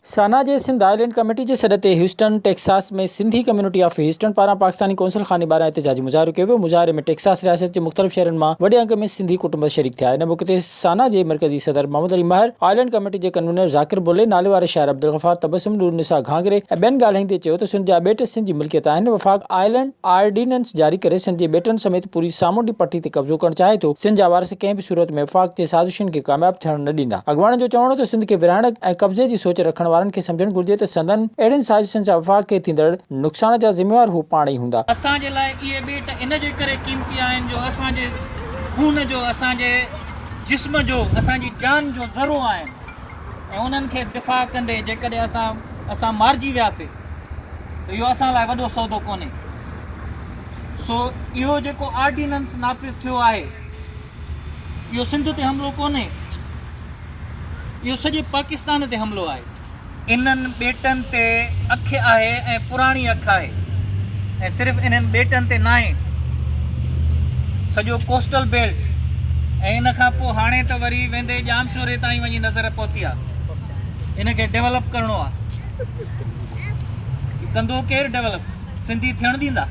SANA جي Sindh island committee جي سڏ تي Houston, Texas ۾ Sindhi community of Houston پاران پاڪستاني قونصل خاني ٻاهران احتجاجي مظاهرو ڪيو ويو، مظاهري ۾ ٽيڪساس رياست جي مختلف شهرن مان وڏي انگ ۾ سنڌي ڪٽنب شريڪ ٿيا، ان موقعي تي. سانا جي مرڪزي صدر محمد علي مهر، آئلينڊ ڪميٽي جي ڪنوينر ذاڪر بلهي، ناليواري شاعر عبدالغفار تبسم، نور نساء گهانگري ۽ ٻين ڳالهائيندي چيو ته سنڌ جا ٻيٽ سنڌ جي ملڪيت آهن، وفاق آئلينڊ آرڊيننس جاري ڪري سنڌ جي ٻيٽن سميت پوري سامونڊي پٽي تي قبضو ڪرڻ چاهي ٿو، سنڌ جا وارث ڪنهن به صورت ۾ وفاق جي سازشن کي ڪامياب ٿيڻ نه ڏيندا، اڳواڻن جو چوڻ هو ته سنڌ کي ورهائڻ ۽ قبضي جي سوچ رکڻ وارن کي سمجهڻ گهرجي ته سندن اهڙين سازشن سان وفاق کي ٿيندڙ نقصان جا ذميوار هو پاڻ ئي هوندا. اسان جي لاء اهي ٻيٽ ان جي ڪري قيمتي آهن جو اسان جي. خون جو اسان جي جسم جو اسان جي جان جو ذرو آهن ۽ انهن کي دفاع ڪندي جيڪڏهن اسان اسان مارجي وياسين ته اهو اسان لاء وڏو سودو ڪونهي سو اهو جيڪو آرڊيننس نافذ ٿيو آهي اهو سنڌ تي حملو ڪونهي اهو سڄي پاڪستان تي حملو آهي انهن ٻيٽن تي اک آهي ۽ پراڻي اک آهي ۽ صرف انهن ٻيٽن تي ناهي سڄو ڪوسٽل بيلٽ ۽ ان کان پوء هاڻي ته وري ويندي ڄامشوري تائين وڃي نظر پهتي آهي ان کي ڊيولپ ڪرڻو آهي ڪندو ڪير ڊيولپ سنڌي ٿيڻ ڏيندا؟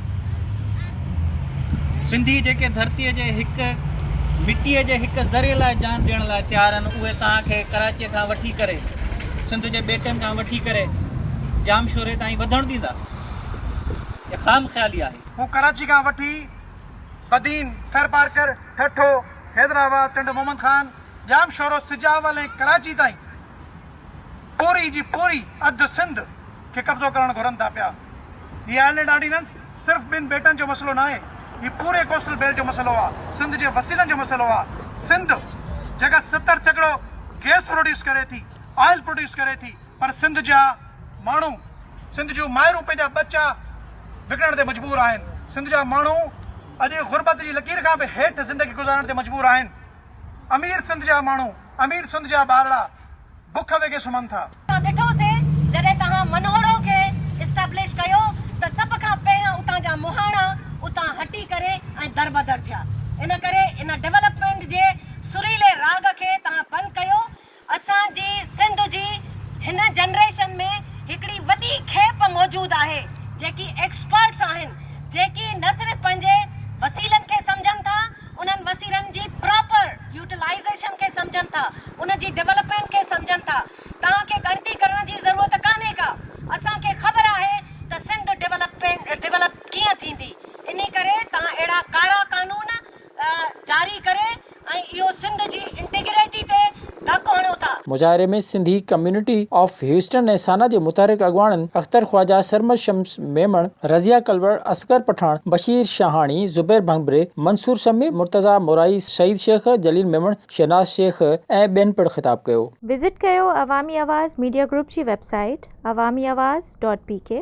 سنڌي جيڪي ڌرتيء جي هڪ مٽيء جي هڪ ذري لاء جان ڏيڻ لاء تيار آهن اهي توهان کي ڪراچيء کان وٺي ڪري سنڌ جي ٻيٽن کان وٺي ڪري ڄام شوري تائين وڌڻ ڏيندا؟ اها خام خيالي آهي. هو ڪراچي کان وٺي بدين، ٿرپارڪر، ٺٽو، حيدرآباد، ٽنڊو محمد خان، ڄام شورو، سجاول ۽ ڪراچي تائين. پوري جي پوري اڌ سنڌ کي قبضو ڪرڻ گهرن ٿا پيا. هي آئلينڊ آرڊيننس صرف ٻن ٻيٽن جو مسئلو ناهي، هي پوري ڪوسٽل بيلٽ جو مسئلو آ، سنڌ جي وسيلن جو مسئلو آ. سنڌ جيڪا ستر سيڪڙو گيس پروڊيوس ڪري ٿي، آئل پروڊيوس ڪري ٿي پر سنڌ جا ماڻهو، سنڌ جون مائرون پنهنجا ٻچا وڪڻڻ تي مجبور آهن، سنڌ جا ماڻهو اڄ غربت جي لڪير کان به هيٺ زندگي گذارڻ تي مجبور آهن. امير سنڌ جا ماڻهو، امير سنڌ جا ٻارڙا بک وگهي سمهن ٿا. اسان ڏٺو سي جڏهن توهان منهوڙو کي اسٽبلش ڪيو ته سڀ کان پهريان اتان جا مهاڻا اتان هٽي ڪري ۽ دربدر ٿيا ان ڪري ان ڊولپمينٽ جي سريلي راڳ کي توهان بند ڪيو اسان جي سنڌ جي هن جنريشن ۾ هڪڙي وڏي کيپ موجود آهي جيڪي ايڪسپرٽس آهن جيڪي نه صرف پنهنجي وسيلن کي سمجهن ٿا انهن وسيلن جي پراپر يوٽيلائيزيشن کي سمجهن ٿا ان جي ڊولپمينٽ کي سمجهن ٿا توهان کي ڳڻتي ڪرڻ جي ضرورت ڪانهي ڪا اسان کي خبر آهي ته سنڌ ڊولپ ڪيئن ٿيندي انهي ڪري توهان اهڙا ڪارا قانون جاري ڪري ۽ اهو سنڌ جي انٽيگريٽي تي ڌڪ هڻيو ٿا. مظاهري ۾ Sindhi community of Houston ۽ SANA جي متحرڪ اڳواڻن اختر خواجه، سرمد شمس ميمڻ، رضيه ڪلوڙ، اصغر پٺاڻ، بشير شاهاڻي، زبير ڀنڀري، منصور سمي، مرتضيٰ مورائي، سعيد شيخ، جليل ميمڻ، شهناز شيخ ۽ ٻين پڻ خطاب ڪيو. وزٽ ڪيو عوامي آواز ميڊيا گروپ جي website Awami Awaz dot P ڪي.